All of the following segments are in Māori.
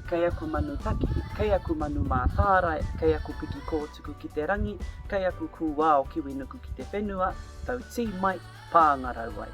Kei aku manu taki, kei aku manu mātārae, kei aku piki kōtuku ki te rangi, kei aku kūao kiwinuku ki te whenua, tau tī mai, pāngarau ai.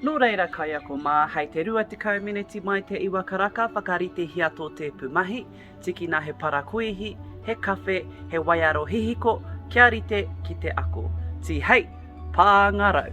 Nō reira kaiako mā, hei te 20 mineti mai te iwa karaka whakaritehia tō tēpu mahi, tikina he parakuihi, he kawhe, he waiaro hihiko, kia rite ki te ako. Tihei! Pāngarau!